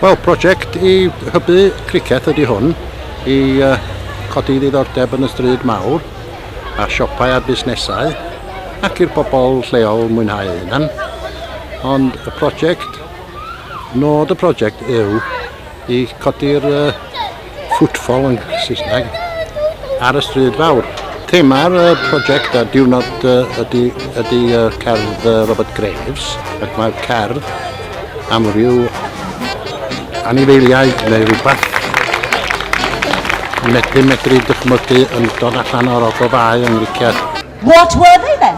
Wel, prosiect i hybu cricet ydy hwn, i uh, codi ddiddordeb yn y stryd mawr, a siopau a busnesau, ac i'r bobl lleol mwynhau hynny. Ond y prosiect Nod y prosiect yw i codi'r uh, footfall yn Saesneg ar y stryd fawr. Thema'r uh, prosiect a diwrnod uh, ydy, ydy uh, cerdd uh, Robert Graves ac mae'r cerdd am ryw anifeiliaid neu rhywbeth medru medru dychmygu yn dod allan o'r ogofau yn riciad. What were they then?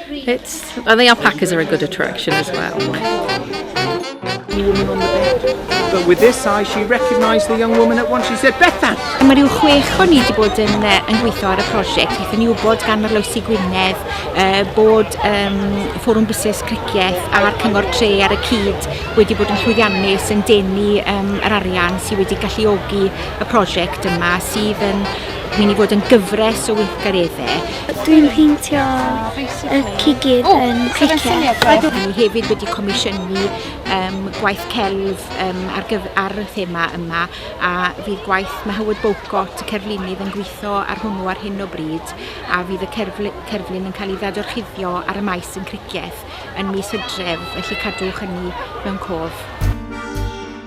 It's, I think alpacas are a good attraction as well. But with this eye, she recognised the young woman at once. She said, Bethan! A mae rhyw chwech o ni wedi bod yn, uh, yn gweithio ar y prosiect. Wnaethon ni wybod gan yr Lawsi Gwynedd uh, bod um, Fforwm Busnes Cricieth a'r Cyngor Tre ar y cyd wedi bod yn llwyddiannus yn denu um, yr arian sydd wedi galluogi y prosiect yma sydd yn mynd i fod yn gyfres o weithgareddau Dwi'n peintio y cigir yn cricket. Ni hefyd wedi comisiynu um, gwaith celf um, ar, gyf, ar y thema yma a fydd gwaith mae Howard Bowcott, y cerflunydd, yn gweithio ar hwnnw ar hyn o bryd a fydd y cerfl, cerflun yn cael ei ddadorchuddio ar y maes yn criceth yn mis hydref, felly cadwch hynny mewn cof.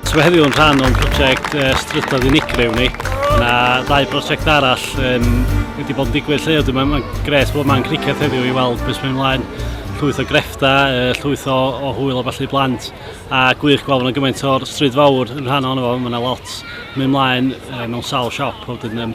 So mae heddiw yn rhan o'n prosiect uh, strydoedd unigryw ni. Yna ddau brosiect arall um, wedi bod yn digwydd lle ydw. Mae'n ma gres bod yma'n cricet heddiw i weld beth mae'n mlaen llwyth o grefta, uh, llwyth o, o hwyl o falle blant a gwych gweld yna gymaint o'r stryd fawr yn rhan ohono fo, mae yna lot mynd mlaen uh, mewn sawl siop, wedyn um,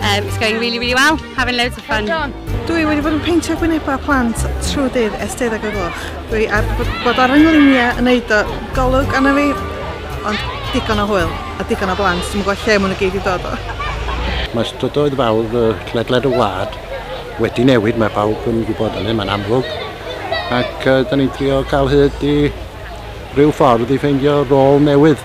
Um, it's going really, really well. Having loads of fun. Dwi wedi bod yn peintio gwynebau plant trwy dydd ers deuddeg o gloch. Dwi ar bod ar yngluniau yn neud o golwg anna fi, ond digon o hwyl a digon o blant. Dwi'n gwybod lle maen nhw gyd i dod o. Mae strydoedd fawr y ledled y wlad wedi newid, mae pawb yn gwybod hynny, mae'n amlwg. Ac uh, da ni'n trio cael hyd i rhyw ffordd i ffeindio rôl newydd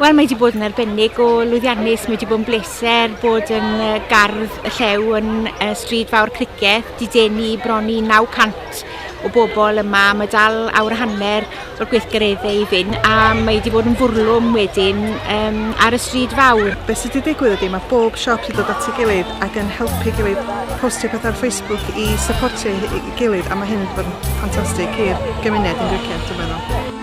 Wel, mae wedi bod yn arbennig o lwyddiannus, mae wedi bod yn bleser bod yn gardd y llew yn uh, Stryd Fawr Criceth, di denu bron i 900 o bobl yma, mae dal awr a hanner o'r gweithgareddau i fynd a mae wedi bod yn fwrlwm wedyn um, ar y Stryd Fawr. Be sydd wedi digwydd ydy, mae bob siop wedi dod at ei gilydd ac yn helpu gilydd postio pethau ar Facebook i supportio ei gilydd a mae hyn wedi bod yn ffantastig i'r gymuned yn Griceth, dwi'n meddwl.